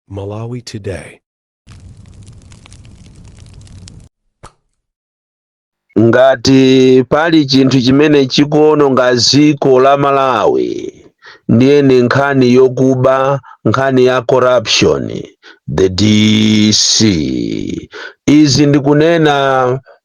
Malawi Today. ngati pali chinthu chimene chikuononga dziko la malawi ndiye ni nkhani yokuba nkhani ya corruption the DC izi ndikunena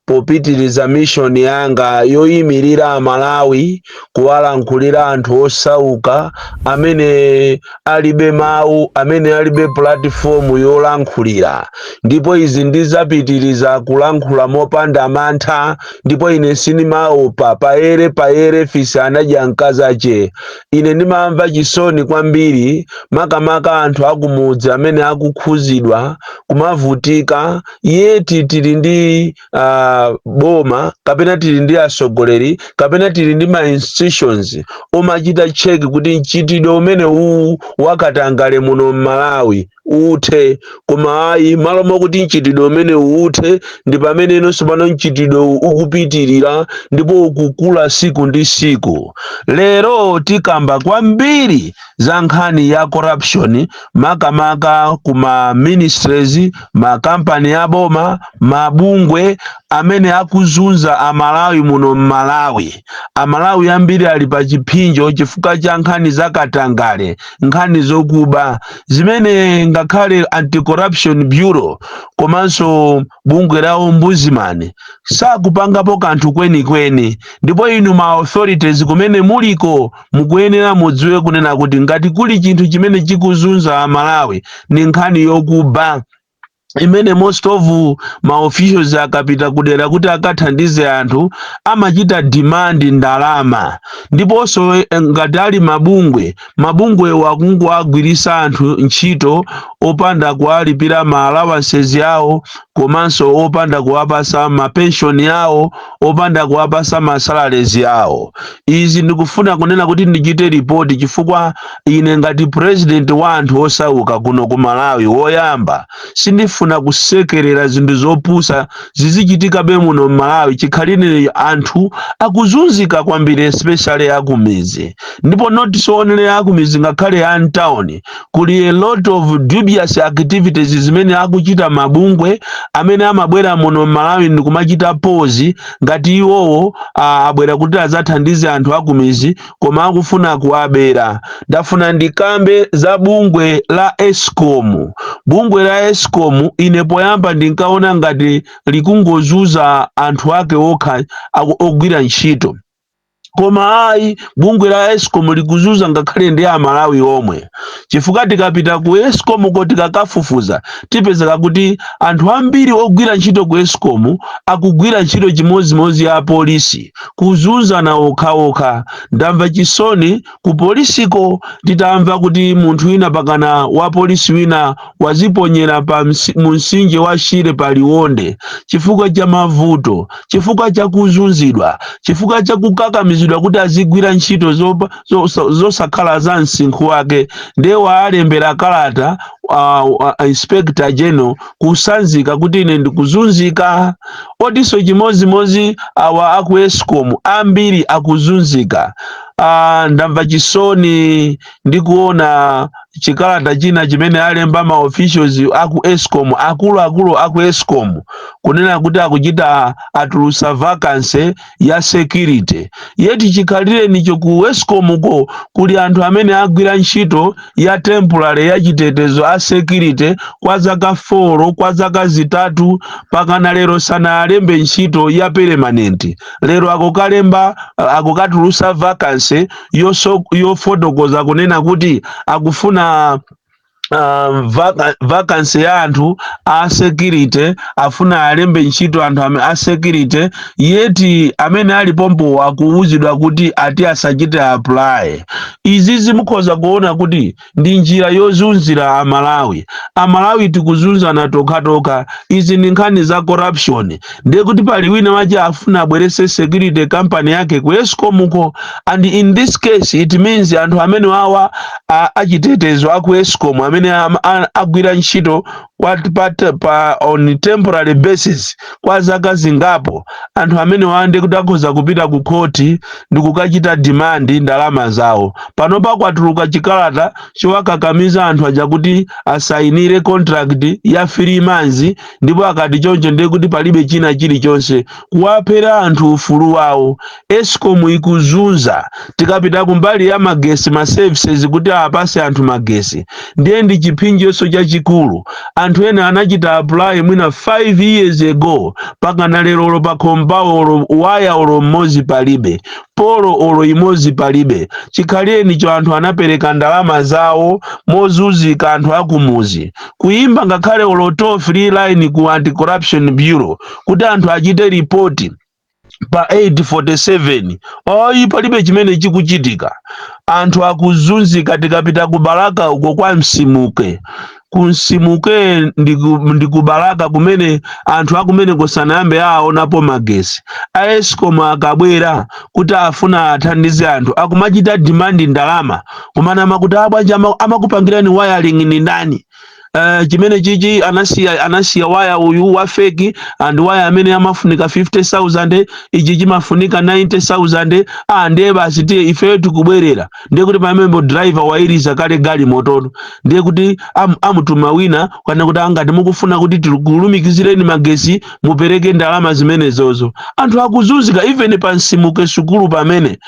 Popitiriza mission yanga yoyimirira Amalawi kuwalankhulira anthu osauka amene alibe mau, amene alibe platform yolankhulira, ndipo izi ndizapitiriza kulankhula mopanda mantha ndipo ine sindimaopa, payere payere fisi anadya mkazache. Ine ndimamva chisoni kwambiri makamaka anthu akumudzi amene akukhuzidwa, kumavutika, yeti tili ndi uh, boma kapena tili ndi asogoleri kapena tili ndi ma institutions omachita cheki kuti mchitidwe umene uwu wakatangale muno m'malawi uthe koma ayi malo mokuti mchitidwe umene uthe ndi pamene inonso pano mchitidwe uwu ukupitirira ndipo ukukula siku ndi siku lero tikamba kwambiri za nkhani ya corruption makamaka ku ma ministries makampani ya boma mabungwe amene akuzunza amalawi muno m'malawi amalawi ambiri ali pa chipsinjo chifukwa cha nkhani za katangale nkhani zokuba zimene ngakhale anti-corruption bureau komanso bungwe la ombudsman sakupangapo kanthu kwenikweni ndipo inu ma authorities kumene muliko mukuyenera mudziwe kunena kuti ngati kuli chinthu chimene chikuzunza amalawi ni nkhani yokuba imene most of ma officials akapita kudera kuti akathandize anthu amachita demand ndalama ndiponso eh, ngati ali mabungwe mabungwewo akungowagwirisa anthu ntchito opanda kuwalipira ma allowances yawo komanso opanda kuwapasa ma pension yawo opanda kuwapasa ma salaries awo izi ndikufuna kunena kuti ndichite ripoti chifukwa ine ngati president wa anthu osauka kuno ku malawi woyamba sindifuna kusekerera zinthu zopusa zizichitikabe muno m'malawi chikhalirenicho anthu akuzunzika kwambiri especially akumizi ndipo not so only akumizi ngakhale a mtawuni kuli a lot of dubious activities zimene akuchita mabungwe amene amabwera muno m'malawi ndikumachita pozi ngati iwowo ah, abwera kuti adzathandize anthu akumizi koma akufuna kuwabera ndafuna ndikambe za bungwe la escom bungwe la escom ine poyamba ndinkaona ngati likungozunza anthu ake okha aku- ogwira ntchito koma ayi bungwe la escom likuzunza ngakhale ndi amalawi omwe chifukwa tikapita ku escom ko tikakafufuza tipezeka kuti anthu ambiri ogwira ntchito ku escom akugwira ntchito chimodzimodzi ya apolisi kuzunzana okhaokha ndamva chisoni ku polisiko titamva kuti munthu wina pakana wa polisi wina waziponyera pa msi- mu msinje wa shire pa liwonde chifukwa cha mavuto chifukwa cha kuzunzidwa chifukwa cha kukakamizidwa kuti azigwira ntchito zopa- zo- zo- zosakhala za msinkhu wake ndiye walembera kalata uh, uh, inspector general kusanzika kuti ine ndikuzunzika otiso chimozimozi awa aku escom ambiri akuzunzika ah, ndamva chisoni ndi kuona chikalata china chimene alemba ma officials aku escom akuluakulu aku escom kunena kuti akuchita atulusa vacancy ya security yeti chikhalirenicho ku escom ko kuli anthu amene agwira ntchito ya temporary ya chitetezo a security kwa zaka 4 kwa zaka zitatu pakana lero sanaalembe ntchito ya permanent lero akukalemba akukatulusa vacancy yofotokoza kunena kuti akufuna um, vacancy ya anthu a security afuna alembe ntchito anthu amene a security yeti amene ali pompo akuwuzidwa kuti ati asachite apply izizi mukhoza kuona kuti ndi njira yozunzira amalawi amalawi tikuzunzana tokhatokha izi ndi nkhani za corruption ndiye kuti pali wina wache afuna abwerese security company yake ku escomuko and in this case it means anthu amene wawa a- achitetezo aku escom amene am- a- agwira ntchito kwa pa, pa on temporary basis kwa zaka zingapo anthu amene wa nde kuti akhoza kupita ku khoti ndi kukachita demand ndalama zawo panopa kwatuluka chikalata chowakakamiza anthu aja kuti asayinire contract ya three months ndipo akati choncho ndiye kuti palibe china chilichonse kuwaphera anthu ufulu wawo escom ikuzunza tikapita kumbali ya magesi ma services kuti apase anthu magesi ndiye ndi chipsinjonso chachikulu anthu ena anachita apply mwina 5 years ago pakana lero olo pakhomo pawo olo waya olo mmodzi palibe polo olo imodzi palibe chikhalirenicho anthu anapereka ndalama zawo mozunzika anthu akumuzi kuyimba ngakhale olo toll free line ku anti corruption bureau kuti anthu achite ripoti pa 847 ayi palibe chimene chikuchitika anthu akuzunzika tikapita ku balaka uko kwa msimuke kumsimuke ndi ku- ndi ku balaka kumene anthu akumeneko sanayambe aonapo magesi a escom akabwera kuti afuna athandize anthu akumachita dimandi ndalama kumanama kuti ah bwanji ama- amakupangirani wayaling ni ndani Uh, chimene chichi, anasiya anasiya waya uyu wa fake and waya amene amafunika 50000 ichi chimafunika 90000 ah ndiye basi tiye ifeyo tikubwerera ndiye kuti pameneyo driver wailiza kale galimoto no ndiye kuti am, amutuma wina kunena kuti ah ngati mukufuna kuti tikulumikizireni magesi mupereke ndalama zimenezozo anthu akuzunzika even pamsimuke sukulu pamene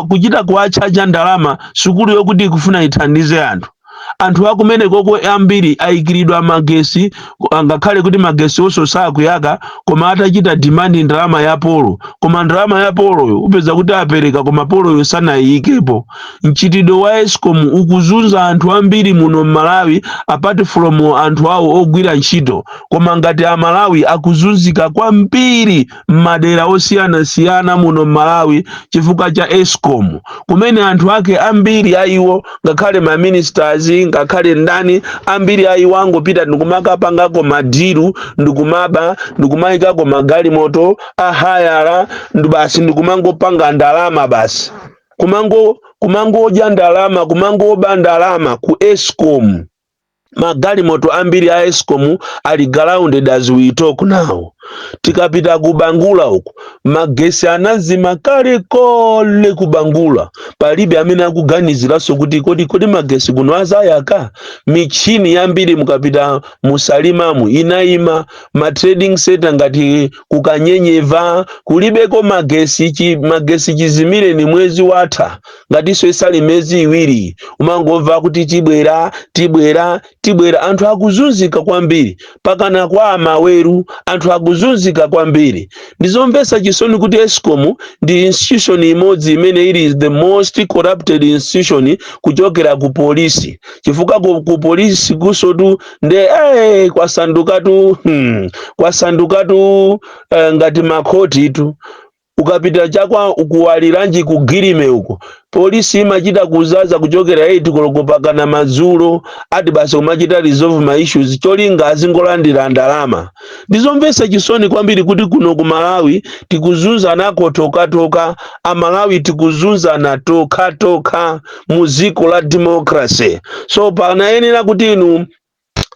kuchita kuwachaja ndalama sukulu yokuti ikufuna ithandize anthu anthu akumeneko ambiri ayikiridwa magesi angakhale kuti magesiwonso sakuyaka koma atachita demand ndalama ya polo koma ndalama ya poloyo upeza kuti apereka koma poloyo sanayiyikepo mchitidwe wa escom ukuzunza anthu ambiri muno mmalawi apart from anthu awo ogwira ntchito koma ngati amalawi akuzunzika kwambiri m'madera osiyanasiyana muno m'Malawi chifukwa cha escom kumene anthu ake ambiri a iwo ngakhale ma ministers ngakhale ndani ambiri a iwo angopita ndikumakapangako madiru ndikumaba ndikumayikako magalimoto a hayala ndi basi ndikumangopanga ndalama basi kumango kumangodya ndalama kumangoba ndalama ku escom magalimoto ambiri a escom ali grounded as we talk now tikapita ku bangula uku magesi anazima kalekale ku bangula palibe amene akuganiziranso kuti kodi kodi magesi kuno azayaka michini yambiri mukapita mu salimamu inayima ma trading center ngati ku kanyenyeva kulibeko magesi chi, magesi chizimireni mwezi watha ngatinso sali miyezi iwiri umangomva kuti tibwera tibwera tibwera anthu akuzunzika kwambiri pakana kwa a maweru anthu akuzunzika kwambiri ndizomvetsa chisoni kuti escom ndi institution imodzi imene ili the most corrupted institution kuchokera ku polisi chifukwa ku, ku polisi kunsotu nde eh, kwasandukatu hmm, kwasandukatu eh, ngati makhoti tu Ukapita cha kwa Waliranji ku Guillime uko, police imachita kuzaza kuchokera 8 koloko pakana madzulo, ati basi kumachita resolve ma issues cholinga azingolandira ndalama. Ndizomvetsa chisoni kwambiri kuti kuno ku Malawi tikuzunzanako tokhatokha, a Malawi tikuzunzana tokhatokha mu dziko la democracy. So panayenera kuti inu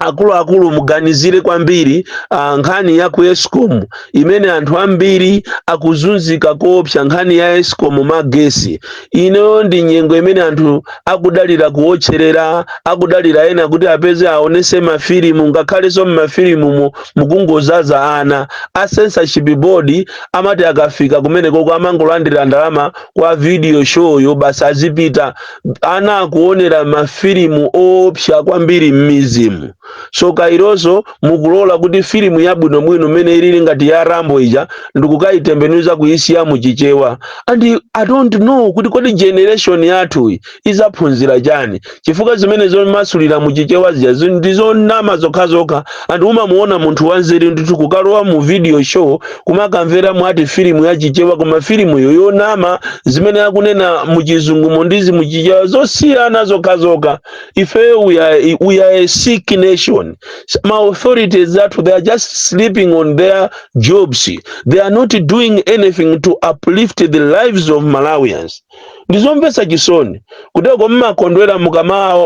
akuluakulu muganizire kwambiri ah, nkhani ya ku escom imene anthu ambiri akuzunzika koopsa nkhani ya escom magesi inoyo ndi nyengo imene anthu akudalira kuotcherera akudalira ena kuti apeze aonese mafilimu ngakhalenso mmafilimumo mukungozaza ana a censorship board amati akafika kumenekoko amangolandira ndalama kwa video showyo basi azipita ana akuonera mafilimu oopsa kwambiri m'mizimu so kayanso mukulola kuti filimu yabwinobwino mmene ilili ngati ya rambo ija ndikukayitembenuza kuyisiya mu chichewa and i don't know kuti kodi generation yathu izaphunzira chani chifukwa zimene zomasulira mu chichewa zija zi- ndizonama zokhazokha and umamuona munthu wanzeru ndithu kukalowa mu video show kumakamvera amvekere ati filimu ya chichewa koma filimuyo yonama zimene akunena muchizungumo ndizi muchichewa zosiyana zokhazokha ifeyo we are, we are a sick nation ma authorities athu they are just sleeping on their jobs they are not doing anything to uplift the lives of malawians ndi zomvetsa chisoni kuteko mmakondwera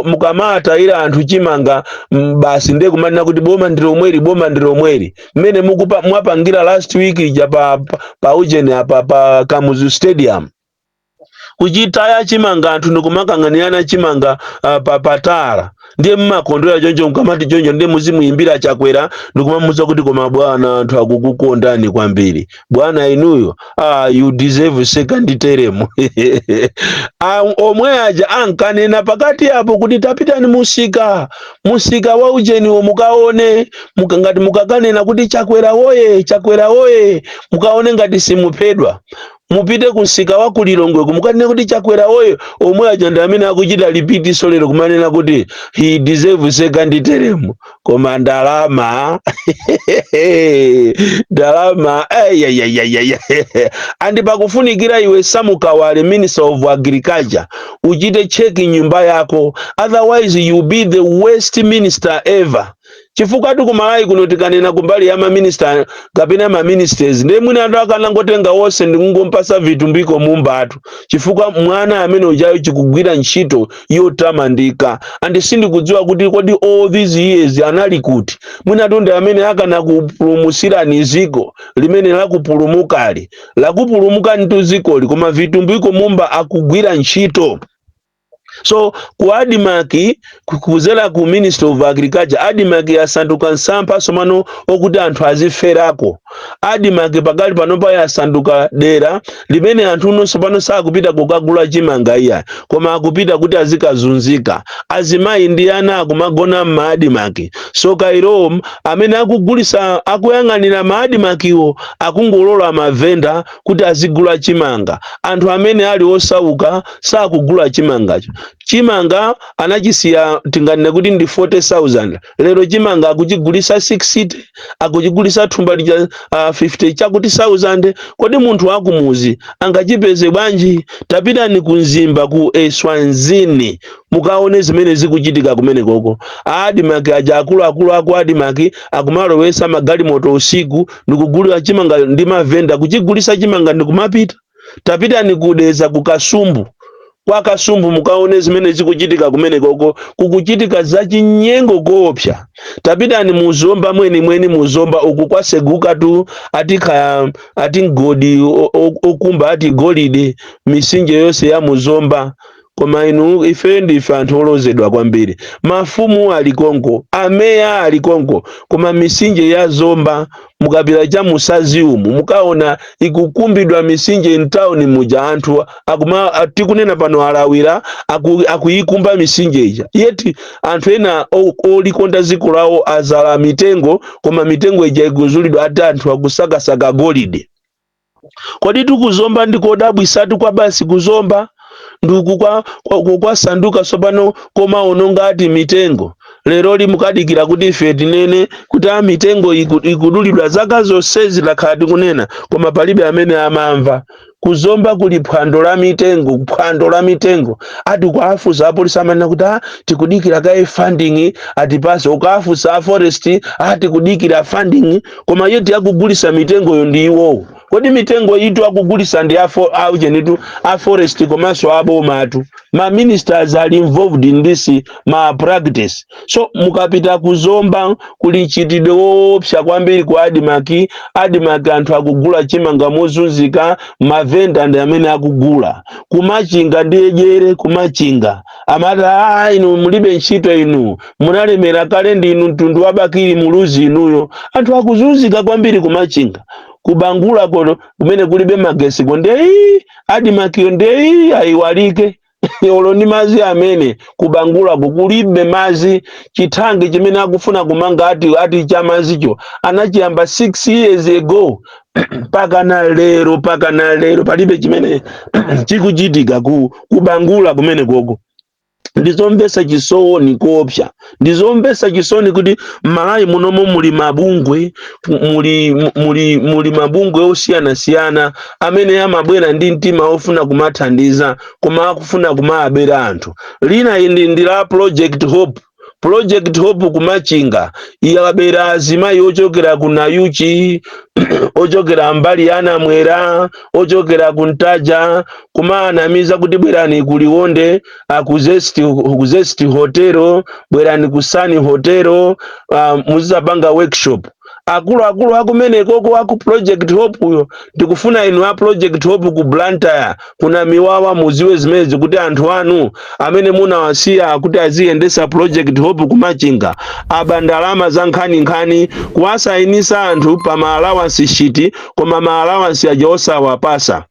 mukamawatayira anthu chimanga mm, basi ndiye kumanena kuti boma ndi lomweli boma ndi lomweli mmene mukupa- mwapangira last week ija pa, pa, pa ujeni apa pa kamuzu stadium kuchitaya chimanga anthu ndikumakang'anirana chimanga uh, pa pa tala ndiye mmakondwera choncho mkamati choncho ndiye muzimuyimbira chakwera ndikumamuza kuti koma bwana anthu akukukondani kwambiri bwana inuyo ah, you deserve second term Ah, omwe aja ankanena pakati apo kuti tapitani musika musika wa ujeniwo mukaone muka, ngati mukakanena kuti chakwera woye chakwera woye mukaone ngati simuphedwa Mupite ku msika wa ku Lilongweko mukanene kuti Chakwera woye, omwe aja ndi amene akuchita repeat so lero kumanena kuti he deserve second term. Koma ndalama ndalama ayayayaya and pakufunikira iwe Samu Kawale, Minister of Agriculture, uchite check nyumba yako otherwise you be the worst minister ever. chifukwatu ku malawi kuno tikanena kumbali ya maminista kapena maministers ndiye mwinatu akanangotenga wonse ndikungompasa vitumbiko mumbatu chifukwa mwana amene ujayo akugwira ntchito yotamandika and sindikudziwa kuti kodi all these years anali kuti mwinatu ndi amene akanakupulumusirani ziko limene lakupulumukali lakupulumukanitu zikoli koma vitumbiko mumba akugwira ntchito so ku admarc kuzera ku ministry of agriculture admarc yasanduka nsampha somano okuti anthu aziferako admarc pakali pano pa yasanduka dera limene anthu nonse pano sakupita kukagula chimanga iyayi koma akupita kuti azikazunzika azimayi ndi ana akumagona mma admarc so kairom amene akugulisa akuyang'anira ma admarcwo akungolola mavenda kuti azigula chimanga. Anthu amene ali osauka sakugula chimangacho. Chimanga anachisiya tinganene kuti ndi 40,000. Lero chimanga akuchigulisa 60, akuchigulisa thumba lija uh, 50 chakuti 1000. Kodi munthu wakumuzi angachipeze bwanji? Tapitani ku Mzimba ku Eswazini mukaone zimene zikuchitika kumenekoko. Adimaki aja akuluakulu aku Adimaki akumalowesa magalimoto usiku ndikugulira chimanga kwa mavenda kuchigulisa chimanga ndikumapita tapitani ku dedza ku kasumbu kwa kasumbu mukaone zimene zikuchitika kumenekoko kukuchitika zachinyengo koopsa tapitani mu zomba mwenimweni mu zomba uku kwasegukatu ati kaya ati mgodi o- o- okumba ati golide mitsinje yonse ya mu zomba Koma inu, ifeyo ndife anthu olozedwa kwambiri. Mafumu ali konko, ameya ali konko, koma mitsinje ya Zomba, mukapita cha mu Sadzi umu, mukaona ikukumbidwa mitsinje m'tauni muja, anthu akuma, a- tikunena pano alawira, aku, akuyikumba mitsinje ija. Yeti anthu ena o- olikonda dziko lawo azala mitengo, koma mitengo ija ikuzulidwa ati anthu akusakasaka golide. Kodi ku zomba ndi kodabwitsatu kwa basi ku zomba ndi uku kwa, kwa, kwa, kwasanduka tsopano komaononga ati mitengo leroli mukudikira kuti ife tinene kuti a mitengo iku- ikudulidwa zaka zonsezi takhala tikunena koma palibe amene amamva ku zomba kuli phwando la mitengo phwando la mitengo ati ukawafunsa apolisi amanena kuti a tikudikira kaye funding atipase ukawafunsa a forest a tikudikira funding koma yeti akugulisa mitengoyo ndi iwowo kodi mitengoyitu akugulisa ndi afo auchenitu a forest komanso abomatu ma ministers are involved in this malpractice so mukapita ku zomba kuli mchitidwe woopsa kwambiri ku adimaki adimaki anthu akugula chimanga mozunzika mavenda ndi amene akugula kumachinga ndi ejere ku machinga amati aa inu mulibe ntchito inu munalemera kale ndinu mtundu wa bakili muluzi inuyo anthu akuzunzika kwambiri ku machinga ku bangula kuno kumene kulibe magetsiko ndiye adimakiyo ndiye ayiwalike olo ndi madzi amene ku bangulako kulibe madzi chithanki chimene akufuna kumanga ati ati cha madzicho anachiyamba 6 years ago mpakana lero mpakana lero palibe chimene chikuchitika ku kubangula kumeneko ko ndizomvesa chisoni koopsa ndizomvesa chisoni kuti mmalawi munomo muli mabungwe muli, muli, muli mabungwe osiyanasiyana amene amabwera ndi mtima ofuna kumathandiza koma akufuna kumaabera anthu lina ndi, ndi la project hope Project Hope kumachinga iyabera azimayi ochokera ku Nayuchi ochokera mbali ya Namwera ochokera ku Ntaja kumanamiza kuti bwerani ku Liwonde ah, ku Zest ku Zest Hotel bwerani ku Sun Hotel ah, muzizapanga workshop akuluakulu akumenekoko aku project hope yo ndikufuna inu a project hope ku blantyre kuna miwawa muziwe zimenezi kuti anthu anu amene munawasiya kuti aziyendesa project hope kumachinga aba ndalama za nkhaninkhani kuwasayinisa anthu pa maalawansi shiti koma maalawansi aja osawapasa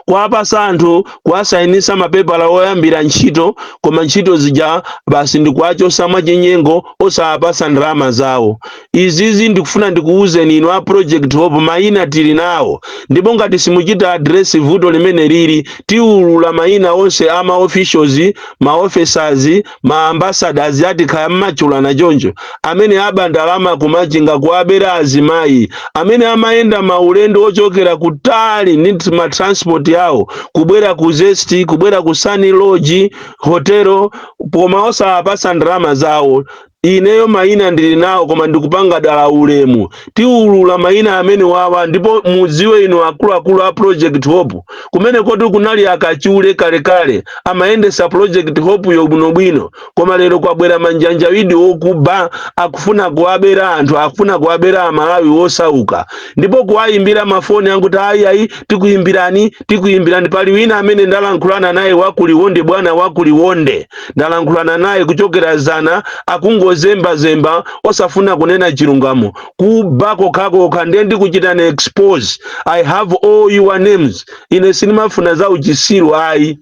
kuwapasa anthu kuwasainisa mapepala oyambira ntchito koma ntchito zija basi ndikuwachosa mwachinyengo osawapasa ndalama zawo izizi ndikufuna ndikuwuzeni inu a project hope mayina tili nawo ndipo ngati simuchita adresi vuto limene lili tiwulula mayina onse a ma officials ma officers ma ambassadors ati kaya mmachulana choncho amene aba ndalama kumachinga kuwabera azimayi amene amayenda maulendo ochokera kutali ndi nt- ma transport awo kubwera ku zesti kubwera ku sani lodge hotelo koma osawapasa ndalama zawo ineyo mayina ndili nawo koma ndikupanga dala ulemu tiulula mayina amene wawa ndipo mudziwe inu akuluakulu a project hope kumene koti kunali akachule kalekale amayendesa project hope yo bwinobwino koma lero kwabwera manjanjawidi okuba akufuna kuwabera anthu akufuna kuwabera amalawi wosauka ndipo kuwayimbira mafoni ankuti ayiayi tikuyimbirani tikuyimbirani pali wina amene ndalankhulana naye wakuliwonde bwana wakuliwonde ndalankhulana naye kuchokera zana akungozembazemba osafuna kunena chilungamo kuba kokhakokha ndiye ndikuchitani expose i have all your names ine sindimafuna za uchisiru ayi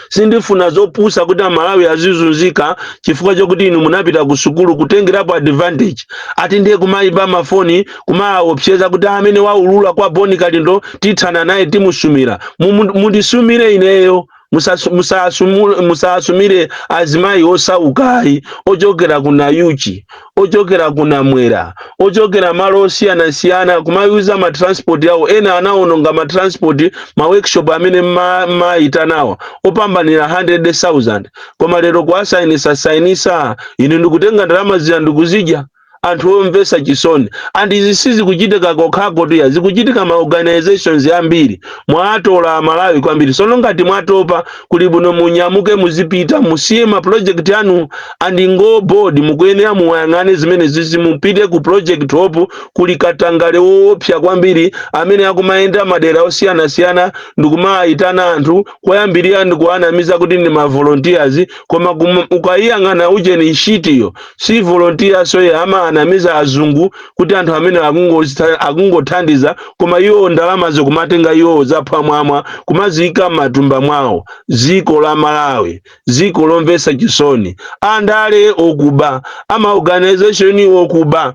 sindifuna zopusa kuti amalawi azizunzika chifukwa chokuti inu munapita ku sukulu kutengerapo advantage ati ndiye kumayimba mafoni kumaopseza kuti amene waulula kwa boni kalindo tithana naye timusumira Mumu- mundisumire ineyo Musasu- musasumu- musasumire azimayi osauka ayi ochokera ku nayuchi ochokera ku namwera ochokera malo osiyanasiyana kumayuza matransport awo ena anawononga matransport ma workshop amene ma- mayitanawa opambanira 100,000 koma lero kuwasainisa sainisa inu ndikutenga ndalama zija ndikuzidya anthu omvetsa chisoni and izi sizikuchitika kokhako tiya zikuchitika ma organizations ambiri mwatola amalawi kwambiri sono ngati mwatopa kuli bwino munyamuke muzipita musiye ma project anu and ngo board mukuyenera muyang'ane zimene zizi mupite ku project hope kuli katangale woopsa kwambiri amene akumayenda madera osiyanasiyana ndikumaitana anthu koyambirira ndikuwanamiza kuti ndi ma volunteers koma kum- ukayiyang'ana ujeni nshitiyo si volunteer so iye amaanamiza azungu kuti anthu amene akungozitha- akungothandiza koma iwo ndalamazo kumatenga iwo zaphwamwamwa kumaziika m'matumba mwawo dziko la malawi dziko lomvetsa chisoni andale okuba a ma organization okuba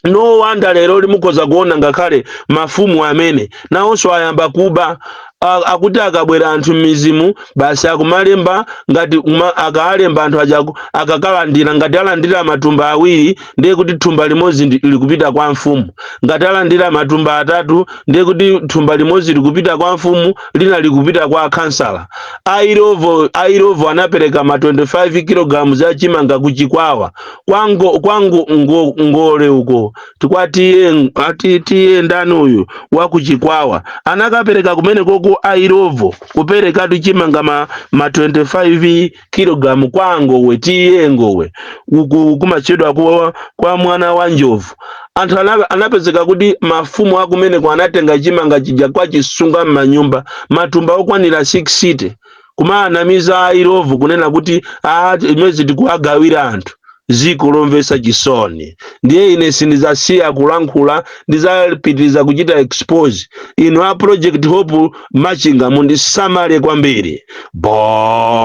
No wonder leroli mukhoza kuona ngakhale mafumu amene nawonso ayamba kuba A- akuti akabwera anthu m'midzimu basi akumalemba ngati kuma- akaalemba anthu aja aku- akakalandira ngati alandira matumba awiri ndiye kuti thumba limodzi ndi- likupita kwa mfumu ngati alandira matumba atatu ndiye kuti thumba limodzi likupita kwa mfumu lina likupita kwa khansala airovo airovo anapereka ma 25 kilograms ya chimanga ku chikwawa kwango kwango ngo, ngole uko tikwatiye ati tiye ndani uyu wakuchikwawa anakapereka kumene koko airovo kupereka tichimanga ma, ma 25 kilogramu kwa ngowe T/A ngowe uku kumachedwa kwa, kwa mwana wa njovu anthu ana- anapezeka kuti mafumu akumeneko anatenga chimanga chija kwachisunga m'manyumba matumba okwanira 60 kumaanamiza airovo kunena kuti a izi tikuwagawira anthu ziko lomvetsa chisoni ndiye ine sindizasiya kulankhula ndizapitiriza kuchita expose inu a project hope machinga mundisamale kwambiri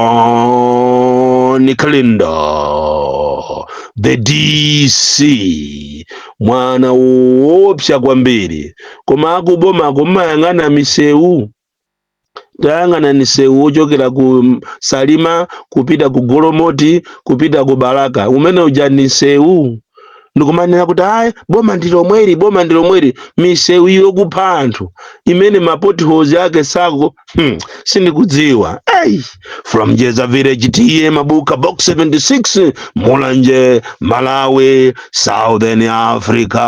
bon kalindo the dc mwana woopsa kwambiri koma akubomako mmayang'ana misewu tayang'anani msewu wochokera ku salima kupita ku golomoti kupita ku balaka umene uja ndi nsewu ndikumanena kuti ayi boma ndi lomweli boma ndi lomweli misewu yokupha anthu imene ma potholes ake sako hmm, sindikudziwa hey, from jeza village T/A mabuka box 76 mulanje malawi southern africa